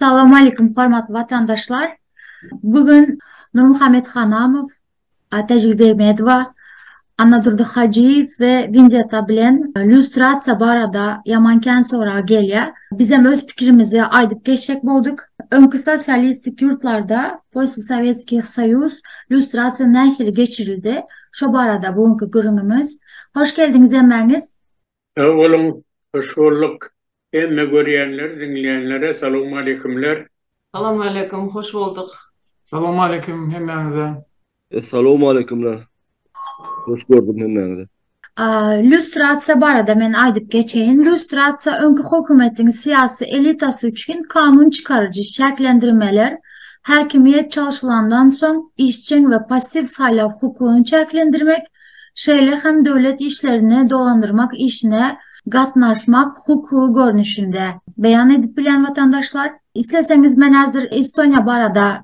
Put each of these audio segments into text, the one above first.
Salam aleýkum hormatly watandaşlar. Bu gün Nurmuhammet Hanamow, Atäjigül Begmedowa, Annadurdy Hajyýew we Winzeta bilen lýustrasiýa barada ýaman kän sorag gelýär. Bizem öz pikirimizi aýdyp geçjek bolduk. Öňki sosialistik ýurtlarda, postsowetskiý soýuz, Lýustrasiýa nähili geçirildi? Şo barada bu günki gürrüňimiz. Hoş geldiňiz hemmäňiz! Sag boluň, hoş bolduk. Hemme görýänler, diňleýänlere salowmaleýkimler. Salowmaleýkim, hoş bolduk. Salowmaleýkim hemmäňize. Salowmaleýkimler. Hoş gördüm hemmäňizi. Lýustrasiýa barada men aýdyp geçeýin. Lýustrasiýa öňki hökümetiň syýasy elitasy üçin kanun çykaryjy çäklendirmeler, häkimiýet çalşylandan soň işjeň we passiw saýlaw hukugyny çäklendirmek, şeýle hem döwlet işlerini dolandyrmak işine gatnaşmak hukugy görnüşinde beýan edip bilen watandaşlar. Isleseňiz men häzir Estoniýa barada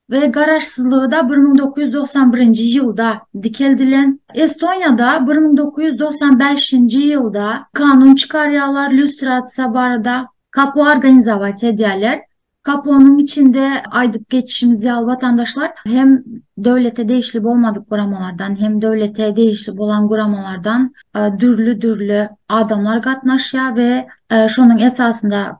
we garaşsyzlygy-da bir müň dokuz ýüz togsan birinji ýylda dikeldilen. Estoniýada bir müň dokuz ýüz togsan bäşinji ýylda kanun çykarýarlar lýustrasiýa barada. KAPO organizawaç edýärler. KAPO-nyň içinde aýdyp geçişimiz ýaly watandaşlar hem döwlete degişli bolmadyk guramalardan, hem döwlete degişli bolan guramalardan dürli-dürli adamlar gatnaşýar we şonuň esasynda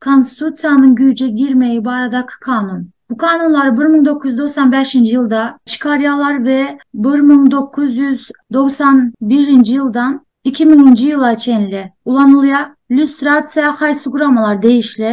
Konstitusiýanyň güýje girmegi baradaky kanun. Bu kanunlary bir müň dokuz ýüz togsan bäşinji ýylda çykarýarlar we bir müň dokuz ýüz togsan birinji ýyldan iki müňünji ýyla çenli ulanylýar. Lýustrasiýa haýsy guramalar degişli?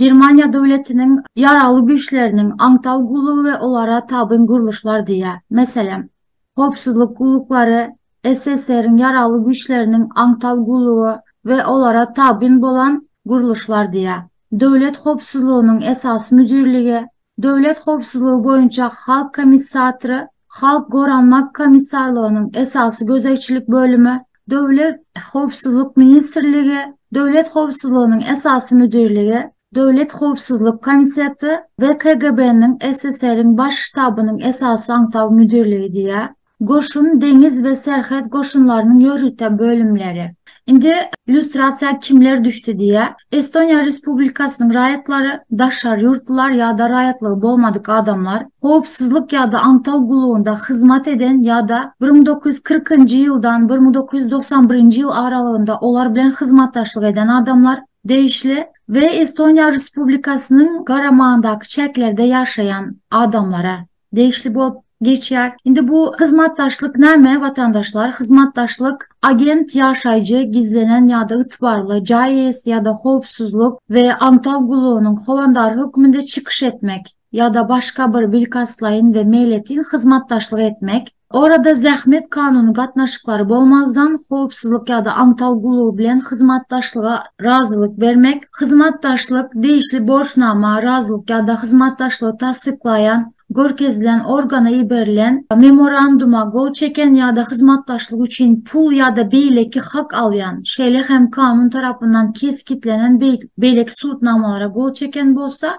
Germaniýa döwletiniň Ýaragly güýçleriniň aňtaw gullugy we olara tabyn gurluşlar diýýär. Meselem, Howpsuzlyk gulluklary, SSR-iň Ýaragly Güýçleriniň aňtaw gullugy we olara tabyn bolan gurluşlar diýýär. Döwlet howpsuzlygynyň esasy müdirligi, Döwlet howpsuzlygy boýunça Halk Komissatry, Halk goranmak komissarlygynyň esasy gözegçilik bölümi, Döwlet howpsuzlyk ministrligi, Döwlet howpsuzlygynyň esasy müdirligi, Döwlet howpsuzlyk komiteti we KGB-niň SSR-iň Baş ştabynyň esasy aňtaw müdirligi diýýär. Goşun, deňiz we serhet goşunlarynyň ýörite bölümleri. Indi lýustrasiýa kimler düşdi diýýär. Estoniýa Respublikasynyň raýatlary, daşary ýurtlular ýa-da raýatlygy bolmadyk adamlar, howpsuzlyk ýa-da aňtaw gullugynda hyzmat eden ýa-da bir müň dokuz ýüz kyrkynjy ýyldan bir müň dokuz ýüz togsan birinji ýyl aralygynda olar bilen hyzmatdaşlyk eden adamlar, degişli, we Estoniýa Respublikasynyň garamagyndaky çäklerde ýaşaýan adamlara. degişli bolup geçýär. Indi bu hyzmatdaşlyk näme watandaşlar? Hyzmatdaşlyk agent ýaşaýjy, gizlenen ýa-da ygtybarly jaý eýesi ýa-da howpsuzlyk we aňtaw gullugynyň howandary hökmünde çykyş etmek ýa-da başga bir bilkastlaýyn we meýletin hyzmatdaşlyk etmek, Orada zähmet kanuny gatnaşyklary bolmazdan howpsuzlyk ýa-da aňtaw gullugy bilen hyzmatdaşlyga razylyk bermek, hyzmatdaşlyk, degişli borçnama, razylyk ýa-da hyzmatdaşlygy tassyklaýan, görkezilen organa iberilen, memoranduma gol çeken ýa-da hyzmatdaşlyk üçin pul ýa-da beýleki hak alýan, şeýle hem kanun tarapyndan kesgitlenen beýleki subutnamalara gol çeken bolsa,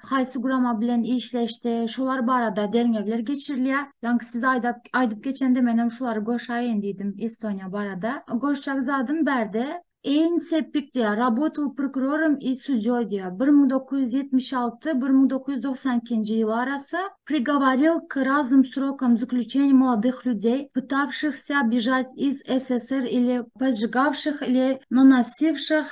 haýsy gurama bilen işleşdi, şolar barada derňewler geçirilýär. Ýaňky siz aýdap aýdyp geçende men hem şulary goşaýyn diýdim Estoniýa barada. Goşjak zadym bärde Ein sepik diýär, rabotal prokurorom i sudýoý diýär. Bir müň dokuz ýüz ýetmiş alty, bir müň dokuz ýüz dogsan ikinji ýyl arasy prigoworil k raznym srokam zaklýuçeniýa molodyh lýudey, pytawşyhsya bježat iz SSR ili pojigawşyh ili nanasywşyh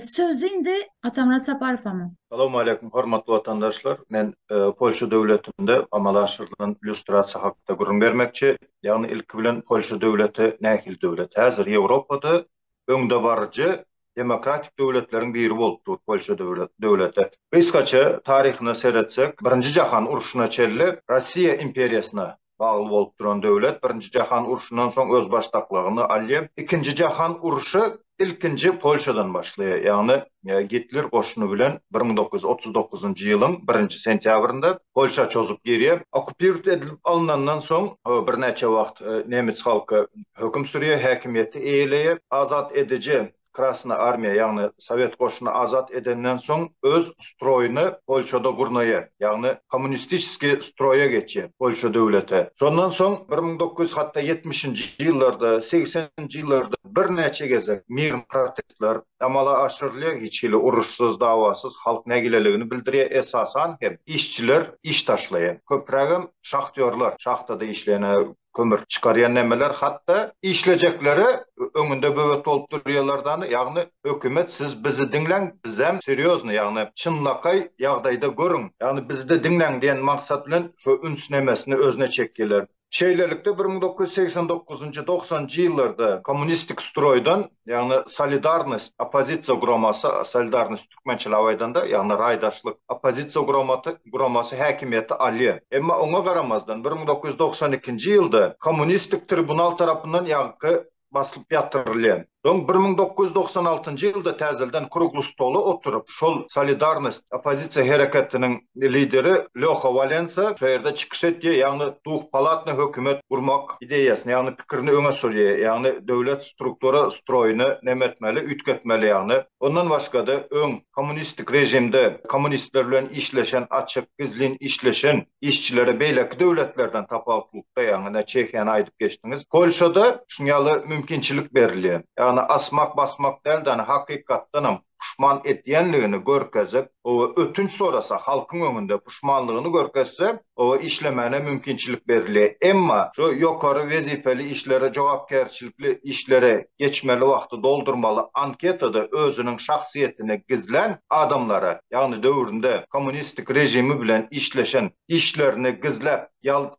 Söz indi Atamyrat Saparowama. Salowmaleýkim hormatly watandaşlar. Men Polşa döwletinde amala aşyrylan lýustrasiýa hakda gürrüň bermekçi. Ýagny ilki bilen Polşa döwleti nähili döwlet? Häzir Ýewropada öňdebaryjy demokratik döwletleriň biri bolup dur Polşa döwleti. Gysgaça taryhyna seretsek, Birinji jahan urşuna çenli Russiýa imperiýasyna bagly bolup duran döwlet Birinji jahan urşundan soň özbaşdaklygyny alýar. Ikinji jahan urşy ilkinji Polşadan başlaýar, ýagny Gitler goşuny bilen bir müň dokuz ýüz otuz dokuzynjy ýylyň birinji sentýabrynda Polşa çozup girýär. Okupirt edilip alynandan soň birnäçe wagt nemes halky höküm sürýär, häkimiýeti eýeleýär. Azat ediji Krasna armiýa, ýagny sowet goşuny azat edenden soň öz stroýuny Polşada gurnaýar, ýagny kommunistiçeskiý stroýa geçýär, Polşa döwlete. Şondan soň bir müň dokuz ýüz hatda ýetmişinji ýyllarda, segseninji ýyllarda birnäçe gezek mirn protestler amala aşyrylýar, hiç hili uruşsyz, dawasyz halk nägileligini bildirýär, esasan hem işçiler iş taşlaýar. Köprägem şahtýorlar, şahtada işleýän, kömür çykarýan nämeler hatda işlejekleri öňünde böwet bolup durýarlar dany ýagny hökümet siz bizi diňläň bizem serýozny ýagny çynlakaý ýagdaýda görüň ýagny bizde diňläň diýen maksat bilen şo üns nemesini özüne çekýärler. Şeýlelikde bir müň dokuz ýüz segsen dokuzynjy doksanjy ýyllarda kommunistik stroýdan Ýagny Solidarnost oppozisiýa guramasy, solidarnost türkmençeläp aýdanda, ýagny raýdaşlyk oppozisiýa guramaty, guramasy häkimiýeti alýar. Emma oňa garamazdan bir müň dokuz ýüz togsan ikinji ýylda kommunistik tribunal tarapyndan ýaňky basylyp ýatyrylýar. Soň bir müň dokuz ýüz togsan altynjy ýylda täzelden krugly stola oturyp, şol Solidarnost oppozisiýa hereketiniň lideri Lýoha Walensa şo ýerde çykyş etýär, ýagny duhpalatny hökümet gurmak ideýasyny, ýagny pikirini öňe sürýär, ýagny döwlet struktura stroýyny nemetmeli, üýtgetmeli ýagny. Ondan başga-da öň kommunistik režimde kommunistler bilen işleşen açyk, gizlin işleşen işçilere beýleki döwletlerden tapawutlykda, ýagny ine Çehiýany aýdyp geçdiňiz, Polşada şuň ýaly mümkinçilik berilýär. Ýagny asmak-basmak däl-de, ýagny hakykatdanam puşman etýänligini görkezip, oba ötünç sorasa, halkyň öňünde puşmanlygyny görkezse, oba işlemäne mümkinçilik berilýär. Emma şu ýokary wezipeli işlere, jogapkärçilikli işlere geçmeli wagty doldurmaly anketada özüniň şahsyýetini gizlän adamlara, ýagny döwründe kommunistik režimi bilen işleşen, işlerini gizläp,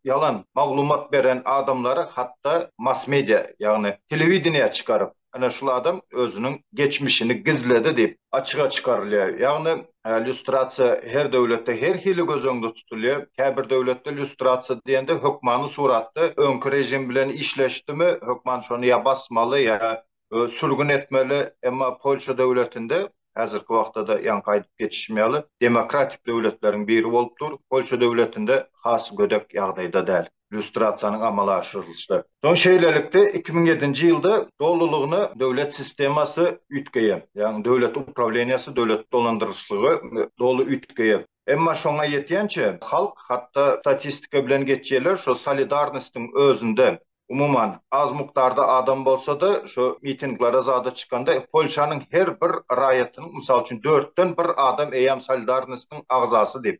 ýalan maglumat beren adamlary hatda mass-media, ýagny telewideniýä çykaryp, Ine şul adam özüniň geçmişini gizledi diýip açyga çykarylýar. Ýagny lýustrasiýa her döwletde her hili göz öňünde tutulýar. Käbir döwletde lýustrasiýa diýende hökmany suratda öňki režim bilen işleşdimi, hökman şony ýa basmaly, ýa sürgün etmeli. Emma Polşa döwletinde, häzirki wagtda-da ýaňky aýdyp geçişim ýaly, demokratik döwletleriň biri bolup dur. Polşa döwletinde has gödek ýagdaýda däl. lýustrasiýanyň amala aşyrylyşy. Soň şeýlelikde iki müň ýedinji ýylda dolulygyna döwlet sistemasy üýtgeýär, ýagny döwlet uprawleniýasy, döwlet dolandyryşlygy doly üýtgeýär. Emma şoňa ýetýänçä halk hatda statistika bilen geçýärler, şo solidarnostyň özünde umuman az mukdarda adam bolsa-da şo mitinglere zada çykanda Polşanyň her bir raýatynyň mysal üçin dörtden bir adam eýýäm solidarnostyň agzasy diýip,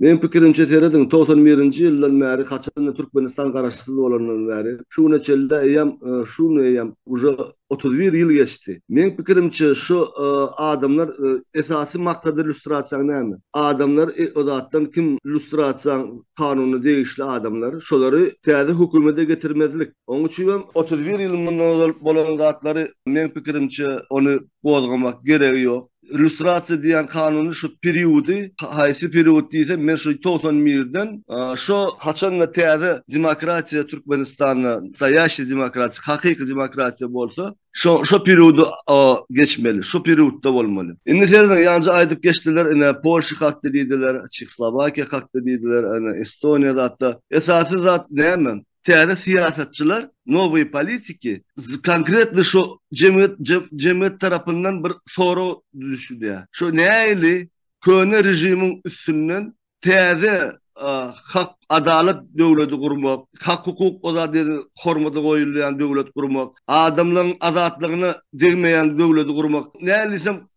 Meň pikirimçe serediň togsan birinji ýyldan bäri haçanda Türkmenistan garaşsyz bolandan bäri şu güne çenli eýýäm şu gün eýýäm uje otuz bir ýyl geçdi. Meň pikirimçe şu adamlar esasy maksady lýustrasiýaň näme? Adamlar o zatdan kim lýustrasiýaň kanuna degişli adamlar şolary täze hökümede getirmezlik. Oň üçin hem otuz bir ýyl mundan ozal bolan zatlary meň pikirimçe ony gozgamak geregi ýok. Illýustrasiýa diýen kanuny şu periody, haýsy period diýsem men şu togsan birden şo haçanda täze demokratiýa Türkmenistanda nastaýaşiý demokratiýa, hakyky demokratiýa bolsa, şo şo periody geçmeli, şo periodda bolmaly. Indi serediň ýanjy aýdyp geçdiler ine Polşa hakda diýdiler, Çehslowakiýa hakda diýdiler, ene Estoniýa zatda. Esasy zat näme? Täze syýasatçylar, nowyý politiki, konkretno şo jemgyýet jemgyýet tarapyndan bir sorag düşülýär. Şo näili köne režimiň üstünden täze hak adalat döwleti gurmak, hak-hukuk ozadini hormata goýulýan döwlet gurmak, adamlaryň azatlygyna degmeýän döwleti gurmak, näilisem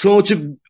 Şoň üçin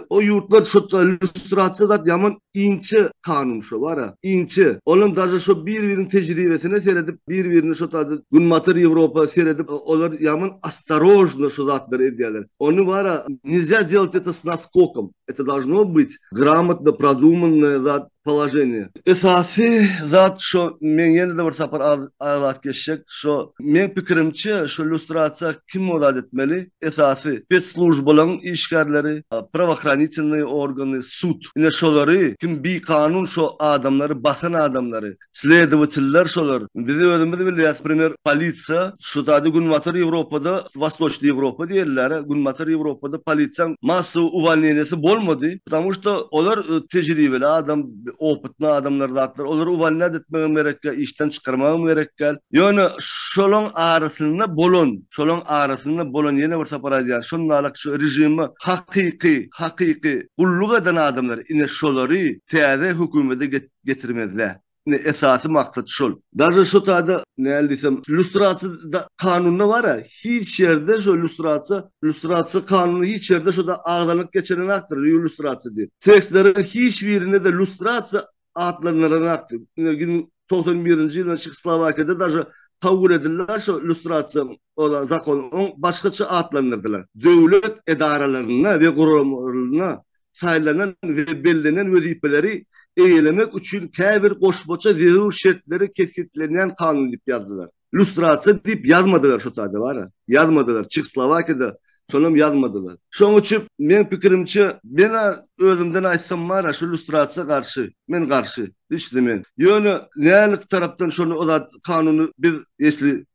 o ýurtlar şu lýustrasiýa zat ýaman inçe kanun şu bara, inçe. Olam daže şu bir-biriniň tejribesine seredip, bir-birini şu taýda Günbatar Ýewropa seredip, olar ýaman ostarožno şu zatlary edýärler. Ony bara nizya delati to s naskokom. Eto dažno byt gramotno produmannaya zat. Položeniýe. Esasy zat şo men ýene-de bir sapar aýlap geçjek şo meň pikirimçe şo lýustrasiýa kim bolat etmeli esasy spetslujbalaň işgärleri prawohranitelnyý organy sud ine şolary kim bikanun şo adamlary basan adamlary Sledowateller şolar. Biz özümiz bilýäs, primer, polisiýa, şu zady Günbatar Ýewropada, Wostoçnyý Ýewropa diýilýär-ä, Günbatar Ýewropada polisiýaň massowy uwalniýeniýesi bolmady, ptamu şto olar tejribeli adam, opytny adamlar zatlar, olary uwalniýat etmegem gerek ýa işden çykarmagam gerek däl. Ýöne şolaň arasynda bolan, şolaň arasynda bolan ýene bir sapar aýdýan, şundalak şu režime hakyky, hakyky gulluk eden adamlar, ine şolary täze hökümede get, getirmezle. Indi esasy maksat şol. Daže şu taýda näl diýsem, lýustrasiýa kanunda bar-a, hiç ýerde şu lýustrasiýa, lýustrasiýa kanuny hiç ýerde şuda agzanyp geçirenakdyr, lýustrasiýa diýip. Tekstleriň hiç birinde-de lýustrasiýa atlandyranakdy. Ine gin togsan birinji ýylda Çehoslowakiýada daže kabul edildi-ä şu lýustrasiýa ola zakon, oň başgaça atlandyrdylar. Döwlet edaralarynda we guramalarynda saýlanan we bellenen wezipeleri eýelemek üçin käbir goşmaça zerur şertleri kesgitlenýän kanun diýip ýazdylar. Lýustrasiýa diýip ýazmadylar şu taýda bar-a. Ýazmadylar. Çehoslowakiýada şonam ýazmadylar. Şoň üçin meň pikirimçe, men-ä özümden aýtsam bar-a şu lýustrasiýa garşy. Men garşy. Hiç-de men. Ýöne nälik tarapdan şony o zat kanuny biz esli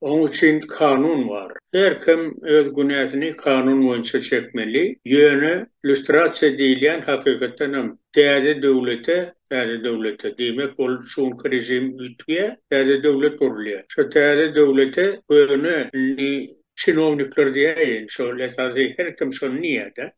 Oň üçin kanun bar. Her kim öz günäsini kanun boýunça çekmeli. Ýöne lýustrasiýa diýilýän hakykatdan hem täze döwlete, täze döwlete, diýmek ol şu günki režim üýtgýär, täze döwlet gurulýar. Şo täze döwlete köne indi çinownikler diýäýin, şol esasy her kim şony diýýär-de,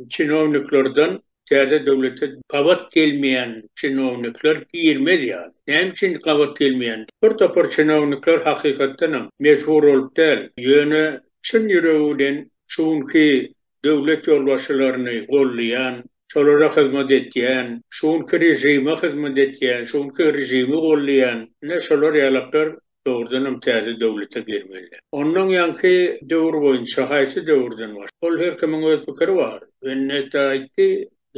çinowniklerden Täze döwlete gabat gelmeýän çinownikler girmez ýaly. Näme üçin gabat gelmeýän? Bir topar çinownikler hakykatdanam, mejbur bolup däl, ýöne çyn ýüregi bilen şu günki döwlet ýolbaşçylaryny golleýan, şolara hyzmat etýän, şu günki režime hyzmat etýän, şu günki režimi golleýän, ine şolar ýalaklar dogrudanam täze döwlete girmelidir. Ondan ýaňky döwür boýunça haýsy döwürden baş. Ol her kimiň öz pikiri bar. Wenneta aýtdy,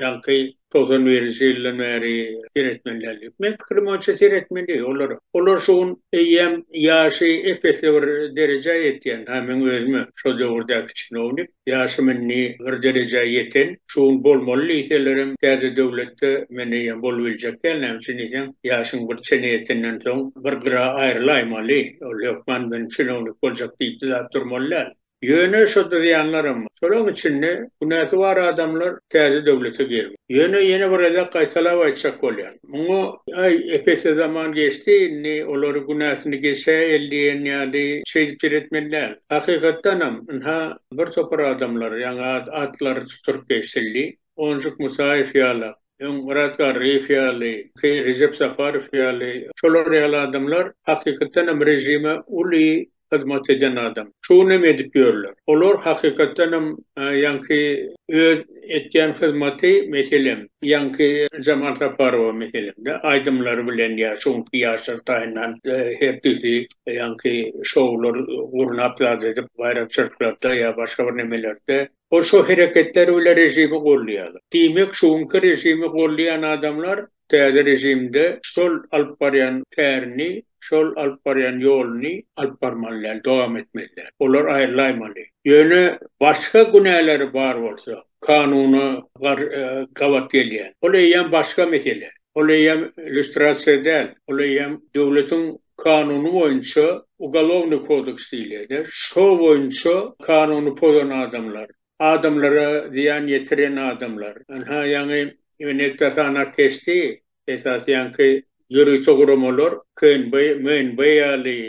ýaňky togsan birinji ýyldan bäri seretmelidir diýip. Meň pikirim boýunça seretmeli olar. Olar şu gün eýýäm ýaşy ep-esli bir derejä ýetýän. Ha meň özüm hem şo döwürdäki çinownik. Ýaşym indi bir derejä ýeten, şu gün bolmaly diýselerem, täze döwletde men eýýäm bolubiljek däl, näme üçin diýseň, ýaşyň bir çene ýetenden soň, bir gyra aýrylaýmaly, ol hökman men çinownik boljak diýip zat durmaly däl. Ýöne şo dyrýanlaram bar. Şolaryň içinde günäsi bar adamlar täze döwlete girmeli. Ýöne ýene bir gezek gaýtalap aýtjak bolýan. Muňa, Aý, epese zaman geçdi, indi olary günäsini geçäýeli diýen ýaly şeýdip seretmeli däl. Hakykatdanam, ynha, bir topar adamlar, ýaňy atlary tuturyp geçildi, Onjuk Musaýew ýaly, öň Myrat Garryýew ýaly, ki, Rejep Saparow ýaly, şolar ýaly adamlar hakykatdanam režime uly hyzmat eden adam. Şu günem edip ýörler. Olar hakykatdan hem ýaňky öz etýän hyzmaty, meselem, ýaňky Jamal Saparowa meselem-de, aýdymlary bilen ýa şu günki ýaşlar taýyndan her düýşi ýaňky şoular gurnap zat edip baýramçylyklarda ýa başga bir nemelerde ol şo hereketleri bilen režimi golleýarlar. Diýmek, şu günki režimi golleýän adamlar täze režimde şol alyp barýan kärini, şol alyp barýan ýoluny alyp barmaly däl, dowam etmeli däl. Olar aýrylaýmaly. Ýöne başga günäleri bar bolsa, kanuna gabat gelýän, ol eýýäm başga mesele. Ol eýýäm lýustrasiýa däl, ol eýýäm döwletiň kanuny boýunça Ugalownyý kodeks diýilýär-de, şo boýunça kanuny pozan adamlar, Adamlara zyýan ýetiren adamlar. Ynha ýaňy Ineta sanap geçdi, esasy ýaňky ýörite guramalar KNB, MNB ýaly,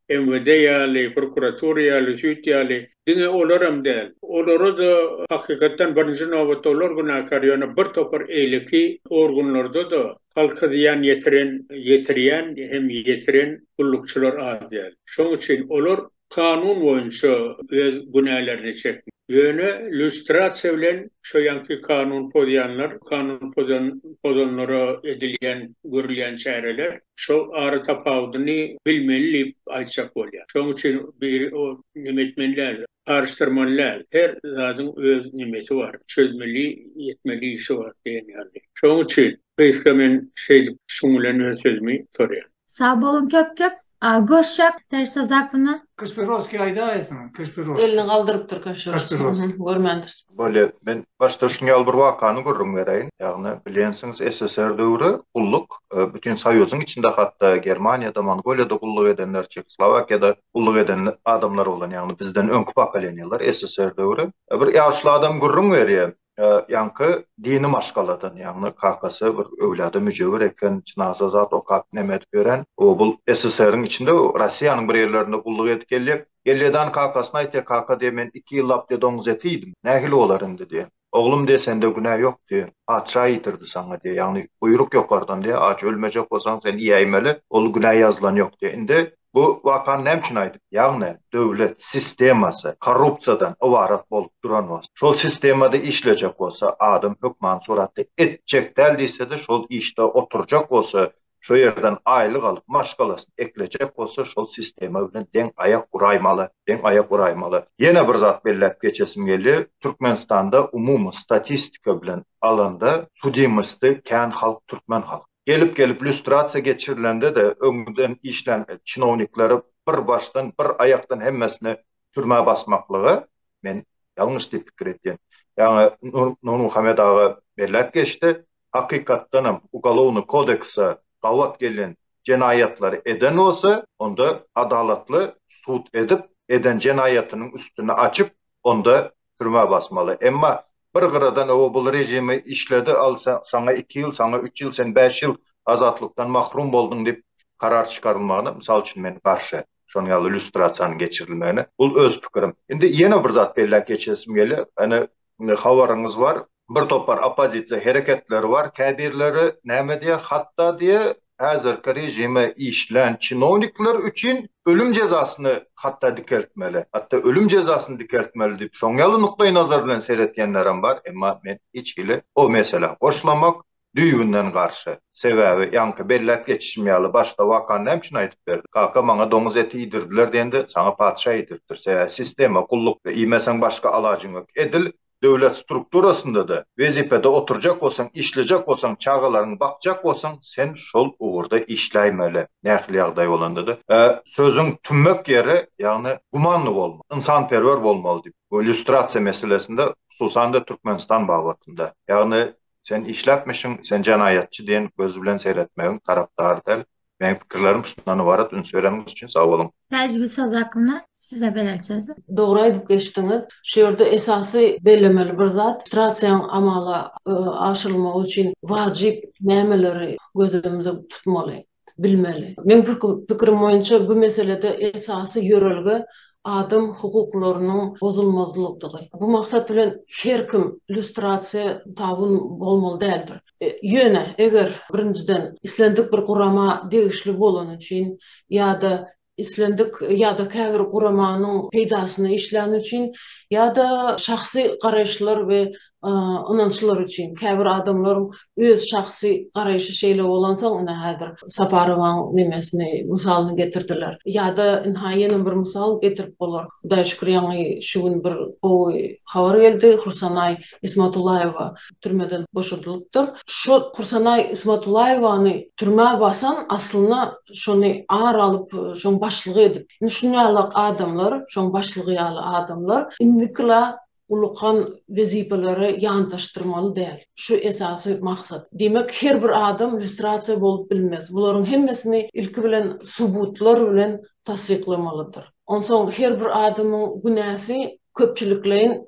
MWD ýaly, prokuratura ýaly, süýt ýaly, diňe olaram däl. Olara-da hakykatdan birinji nobatda olar günäkär, ýöne bir topar eýleki organlarda-da halka zyýan ýetiren, ýetirýän hem ýetiren gullukçylar az däl. Şoň üçin olar kanun boýunça öz günälerini çekmeli. Ýöne lýustrasiýa bilen şo ýanky kanun pozýanlar, kanun pozan pozanlara edilýän, görülýän çäreler şo ara tapawudyny bilmeli diýip aýtjak bolýar. Şoň üçin bir o neme etmeli däl, garyşdyrmaly däl. Her zadyň öz nemesi bar, çözmeli, etmeli işi bar diýen ýaly. Şoň üçin gysga men şeýdip şuň bilen öz sözümi gutarýan. Sag bolun köp köp görşek Täşli Zakuna. Kaşpiroskiý aýdaýasyň Kaşpiroskiý. Elini galdyrypdyr Kaşpiroskiý görmändiris. Bolýar. Men başda şuny ýaly bir wakany gürrüň bereýin. Ýagny bilýänsiňiz SSR döwri gulluk bütin soýuzyň içinde hatda Germaniýada, Mongoliýada gulluk edenler, Çehoslowakiýada gulluk eden adamlar bolan ýagny bizden öňki pokoleniýalar SSR döwri. Bir ýaşuly adam gürrüň berýär. Ýaňky dini maşgaladan, ýagny kakasy bir öwlada müjewür eken, jynaza zat okap neme edip ýören. O bul SSR-iň içinde Rossiýanyň bir ýerlerinde gulluk edip geljek. Elýedan kakasyna aýtýar, Kaka diýýär, men iki ýyllap diýýär doňuz eti iýdim. Nähili bolar indi diýýär. Oglum diýýär, sende günä ýok diýýär. Patyşa iýdirdi saňa diýýär. Ýagny buýruk ýokardan diýýär. Aç ölmejek bolsaň sen iýäýmeli. Ol günä ýazylan ýok diýýär. Indi Bu wakany näme üçin aýdyp, ýagny döwlet sistemasy korrupsiýadan ybarat bolup duran bolsa, şol sistemada işlejek bolsa, adam hökmany suratda etjek däl diýse-de şol işde oturjak bolsa, şo ýerden aýlyk alyp, maşgalasyny eklejek bolsa şol sistema bilen deň aýak uraýmaly, deň aýak uraýmaly. Ýene bir zat belläp geçesim gelýä, Türkmenistanda umumy statistika bilen alanda sudimosty kän halk türkmen halky. Gelip-gelip lýustrasiýa geçirilende-de öňden işlän çinownikleri bir başdan, bir aýakdan hemmesini türmä basmaklygy men ýalňyş diýip pikir edýän. Ýaňy Nurmuhammet aga belläp geçdi, hakykatdanam Ugolovnyý kodeksa gabat gelýän jenaýatlary eden bolsa, onda adalatly sud edip, eden jenaýatynyň üstüni açyp, onda türmä basmaly. Emma Bir gyradan oba bul rejimi işledi al saňa iki ýyl saňa üç ýyl sen bäş ýyl azatlykdan mahrum bolduň dip karar çykarylmagyna mysal üçin men garşy şon ýaly lýustrasiýanyň geçirilmegine bul öz pikirim. Indi ýene bir zat belläp geçesim gelýär ene habaryňyz bar. Bir topar oppozisiýa hereketleri bar käbirleri näme diýýär hatda diýýär häzirki režime işlän çinownikler üçin ölüm jezasyny hatda dikeltmeli, hatda ölüm jezasyny dikeltmeli diýip şoň ýaly nukdaý nazar bilen seretýänlerem bar, emma men hiç hili o meselä goşlamak düýbünden garşy. Sebäbi ýaňky belläp geçişim ýaly başda wakany näme üçin aýdyp berdim? Kaka maňa doňuz eti iýdirdiler diýende saňa patyşa iýdiripdir. Sebäbi sistema, gullukda iýmeseň başga alajyň ýok. Edil Döwlet strukturasynda-da wezipede oturjak bolsaň, işlejek bolsaň, çagalaryňy bakjak bolsaň, sen şol ugurda işläýmeli, nähili ýagdaý bolanda-da. Sözüň tümmek ýeri, ýagny gumanly bolmaly, ynsanperwer bolmaly diýip, bu lýustrasiýa meselesinde, hususan-da Türkmenistan babatynda. Ýagny, sen işläpmişiň, sen jenaýatçy diýen göz bilen seretmegiň tarapdary däl. Meň pikirlerim şundan ybarat üns bereniňiz üçin sag boluň. Täjigül Sazakowna size berer sözi. Dogry aýdyp geçdiňiz. Şu ýerde esasy bellemeli bir zat, strasiýaň amala aşyrylmagy üçin wajyp nämeleri göz öňünde tutmaly, bilmeli. Meň pikirim boýunça bu meselede esasy ýörelge adam hukuklarynyň bozulmazlydygy. Bu maksat bilen her kim lýustrasiýa tabyn bolmaly däldir. Ýöne, eger, birinjiden, islendik bir gurama degişli bolany üçin ýa-da islendik ýa-da käbir guramanyň peýdasyna işläni üçin ýa-da şahsy garaýyşlar we ynançlar üçin, käbir adamlaryň öz şahsy garaýşy şeýle bolansoň, ine, häzir Saparowaň nemesini, mysalyny getirdiler. Ýa-da, ynha, ýene bir mysal getirip bolar. Hudaýa şükür, ýaňy şu gün bir gowy habar geldi, Hursanay Ismatullaýewa türmeden boşadylypdyr. Şo Kursanaý Ismatullaýewany türmä basan aslynda şony ar alyp şoň başlygy edip. Indi şun ýalak adamlar şoň başlygy ýaly adamlar indikila ulykan wezipeleri ýantaşdyrmaly däl. Şu esasy maksat. Diýmek her bir adam lýustrasiýa bolup bilmez. Bularyň hemmesini ilki bilen subutlar bilen tassyklamalydyr. Onsoň her bir adamyň günäsi köpçülikleýin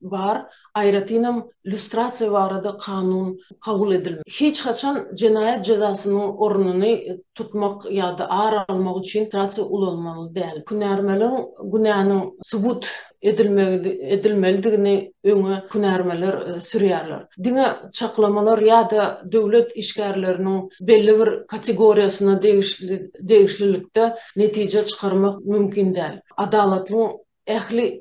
bar, aýratynam lýustrasiýa barada kanun kabul edilmedi. Hiç haçan jenaýat jezasynyň ornuny tutmak ýa-da ar almak üçin lýustrasiýa ulanmaly däl. Hünärmeliň günäniň subut edilmelidigini öňe hünärmeler sürýärler. Diňe çaklamalar ýa-da döwlet işgärleriniň belli bir kategoriýasyna degişlilikde netije çykarmak mümkin däl. Adalatlyň ähli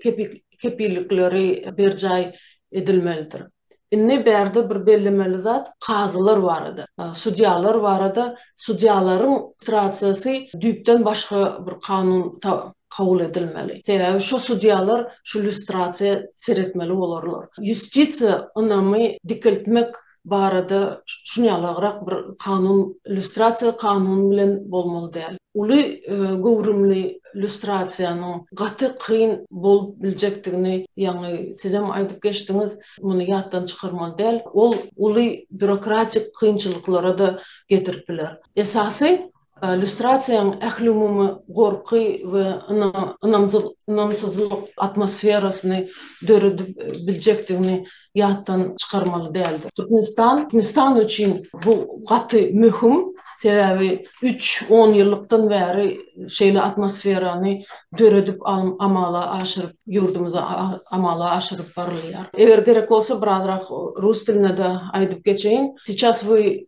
kepillikleri berjaý edilmelidir. Indi bärde bir bellemeli zat kazylar barada, sudýalar barada, sudýalaryň strasiýasy düýpden başga bir kanun kabul edilmeli. Sebäbi şu sudýalar şu lýustrasiýa seretmeli bolarlar. Ýustisiýa ynamy dikeltmek barada şuny ýalygrak bir kanun, lýustrasiýa kanuny bilen bolmaly däl. Uly göwrümli lýustrasiýanyň gaty kyn bolup biljekdigini ýaňy sizem aýdyp geçdiňiz, muny ýatdan çykarmaly däl. Ol uly býurokratik kynçylyklara-da getirip biler. Esasy Lýustrasiýanyň ählumumy gorky we ynamsyzlyk atmosferasyny döredip biljekdigini ýatdan çykarmaly däldir. Türkmenistan üçin bu gaty möhüm, sebäbi üç onýyllykdan bäri şeýle atmosferany döredip amala aşyryp, ýurdumyzda amala aşyryp barylýar. Eger gerek bolsa, birazrak rus dilinde-de aýdyp geçeýin. Sicas we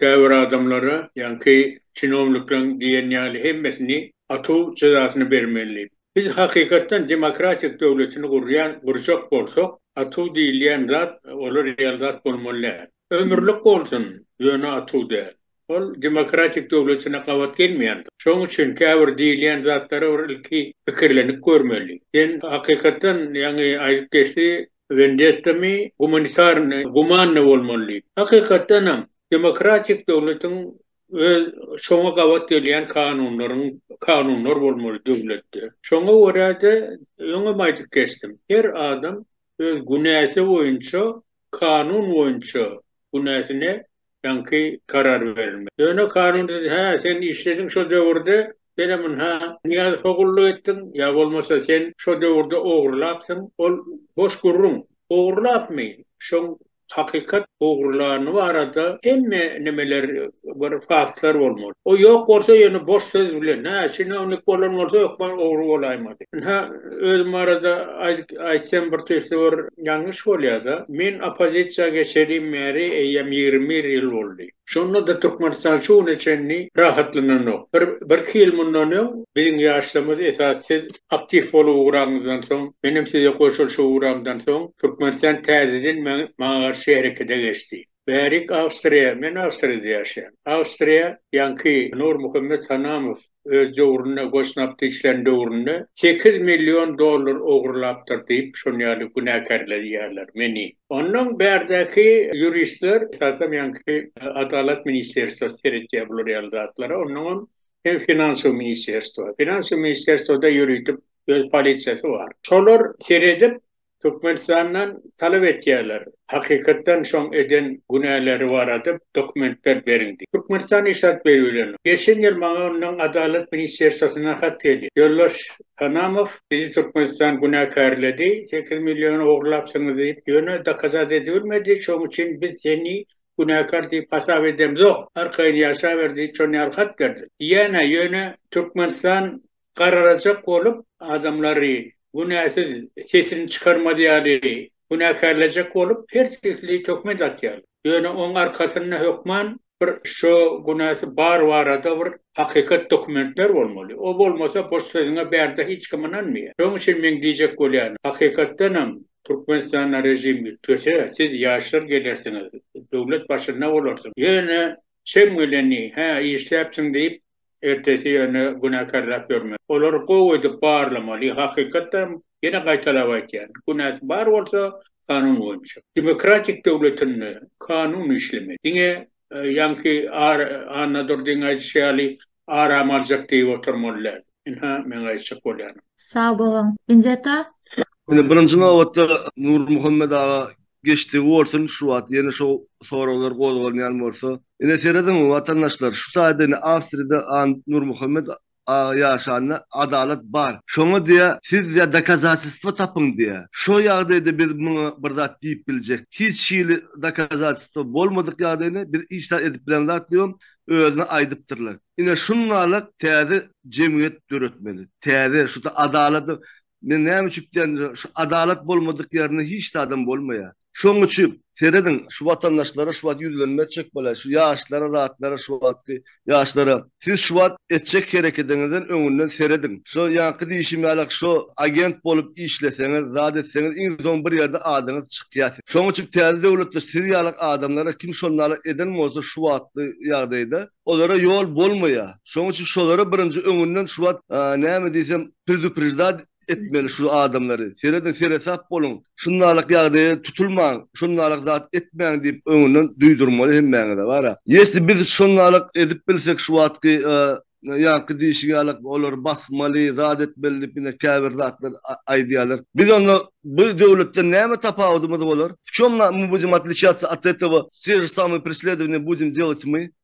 Käbir adamlara, ýaňky çinownikleriň diýen ýaly hemmesini atuw jezasyny bermeli. Biz hakykatdan demokratik döwletini gurýan gurjak bolsak, atuw diýilýän zat ola real zat bolmaly däl. Ömürlik bolsun, ýöne atuw däl. Ol demokratik döwletine gabat gelmeýändir. Şonuň üçin käbir diýilýän zatlara bir ilki pikirlenip görmeli. Sen hakykatdan ýaňy aýdyp geçdi, Wendettamy, gumanitarny, gumanny bolmaly diýip. Hakykatdan hem, demokratik döwletiň öz şoňa gabat gelýän kanunlaryň, kanunlar bolmaly döwletde. Şoňa görä-de, öňem aýdyp geçdim, her adam öz günäsi boýunça, kanun boýunça günäsine Ýaňky karar berilmez. Ýöne kanun siz, hä, sen işlediň şo döwürde, sen hem ynha, Nyýazowa gulluk etdiň, ýa bolmasa sen şo döwürde ogurlapsyň, ol boş gürrüň. Ogurlapmy? Şoň hakykat ogurlany barada hemme nimeler, bir faktlar bolmaly. O ýok bolsa, ýöne boş söz bilen, hä, çinownik bolan bolsa hökman ogry bolaýmaz. Ynha, Özüm barada aýtsam bir tüýs bir ýalňyş bolýar-da. Men oppozisiýa geçelim bäri eýýäm ýigrimi bir ýyl boldy. Şonda-da Türkmenistan şu güne çenli rahatlananok. Bir birki ýyl mundan öň biziň ýaşlarymyz esas siz aktiw bolup ugraňyzdan soň, menem size goşulyşyp ugramdan soň Türkmenistan täzeden maňa garşy herekete geçdi. Bärik Awstriýa, men Awstriýada ýaşaýan. Awstriýa ýaňky Nurmuhammet Hanamow öz döwründe goşnapdy işlän döwründe sekiz million dollar ogurlapdyr diýip şon ýaly günäkärleýärler meni. Ondan bärdäki ýuristler esasan ýaňky Adalat ministerstwa seretýär bular ýaly zatlara onnoňam hem finansow ministerstwa. Finansow ministerstwada ýöritip öz polisiýasy bar. Şolar seredip Türkmenistandan talap etýärler, hakykatdan şoň eden günäleri barada dokumentler beriň diýip. Türkmenistan işaret beribilenok. Geçen ýyl maňa ondan Adalat ministerswasyndan hat geldi. Ýoldaş Hanamow bizi Türkmenistan günäkärledi, sekiz milliony ogurlapsyňyz diýip, ýöne dokazat edibilmedi, şoň üçin biz seni günäkär diýip hasap edemzok, arkaýyn ýaşaber diýip şon ýaly hat berdi. Diýýän-ä, ýöne Türkmenistan garalajak bolup, adamlary günäsiz sesini çykarmaz ýaly günäkärlejek bolup, her sesli töhmet atýar. Ýöne oň arkasynda hökman bir şo günäsi bar barada bir hakykat dokumentler bolmaly. O bolmasa boş sözüňe bärde hiç kim ynanmaýar. Şoň üçin meň diýjek bolýanym, hakykatdanam Türkmenistanda režim üýtgese, siz ýaşlar gelersiňiz, döwlet başynda bolarsyňyz. Ýöne çem geleni, hä işläpsiň diýip, ertesi ýöne günäkärläp ýörmeli. Olary gowy edip barlamaly, hakykatdanam, ýene gaýtalap aýtýan, günäsi bar bolsa, kanun boýunça. Demokratik döwletinde kanun işlemeli. Diňe ýaňky Annadurdyň aýdyşy ýaly aram aljak diýip oturmaly däl. Ynha, meň aýtjak bolýanym. Sag boluň. Inzeta. Indi birinji nobatda Nurmuhammet aga Geçdigi bolsun, şu wagt ýene şo soraglar gozgalmaýan bolsa. Ine serediň watandaşlar, şu taýda ine Awstriýada A. Nurmuhammet aga ýaşanda adalat bar. Şoňa diýä siz diýä dokazatistwa tapyň diýä. Şo ýagdaýda biz muňa bir zat diýip biljek. Hiç hili dokazatistwa bolmadyk ýagdaýynda biz hiç zat edip bilen zat diýibem özüne aýdypdyrlar. Ine şunnalyk täze jemgyýet döretmeli. Täze şu ta adalady Men näme üçin diýen şu adalat bolmadyk ýerinde hiç zadam bolmaýar. Şoň üçin serediň şu watandaşlara şu wagt ýüzlenme etjek bolaý şu ýaşlara zatlara şu wagtky ýaşlara siz şu wagt etjek herekediňizden öňünden serediň şo ýaňky diýşim ýaly şo agent bolup işleseňiz zat etseňiz iň soň bir ýerde adyňyz çykýar siz şoň üçin täze döwletde siz ýaly adamlara kim şondaly eden bolsa şu wagtky ýagdaýda olara ýol bolmaýar şoň üçin şolara birinji öňünden şu wagt näme diýsem Predupreždat etmeli şu adamlary. Serediň seresap boluň. Şundalyk ýagdaýa tutulmaň. Şundalyk zat etmäň diýip öňünden duýdurmaly hemmäňize bara. Ýesi biz şundalyk edip bilsek şu wagtky ýaňky diýşi ýaly olary basmaly, zat etmeli diýip ine käbir zatlar aýdýarlar. Biz onda bu döwletden näme tapawudymyz bolar? Vçom na my budem otliciatsya at etowa? Te je samye presledovaniya budem delat my?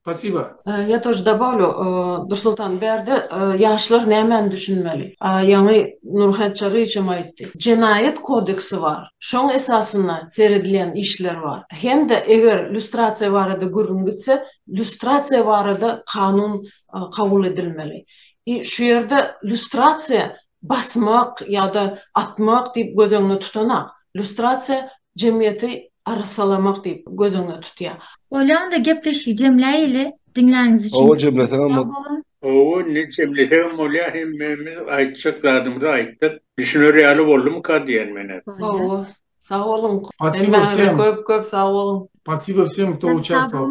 Spasiba. Ýa tor dabalu Dursultan bärde ýaşlar nämäni düşünmeli? Ýaňy Nurhäç Çaryýewiçem aýtdy. Jenaýat kodeksi bar. Şoň esasynda seredilýän işler bar. Hem-de eger lýustrasiýa barada gürrüň gitse, lýustrasiýa barada kanun kabul edilmeli. I şu ýerde lýustrasiýa basmak ýa-da atmak diýip göz öňüne tutanok. Lýustrasiýa jemgyýeti arassalamak diýip göz öňüne tutýar. Bolýa onda gepleşigi jemläýeli, diňläniňiz üçin Hawa jemleseňem bol. Hawa indi jemlesegem bolýa hemmämiz aýtjak zadymyzy aýtdyk. Düşüner ýaly boldumyka diýen men hep. Hawa. Sag boluň. Passivo wsem. Köp köp sag boluň. Passivo wsem kto uçastwal.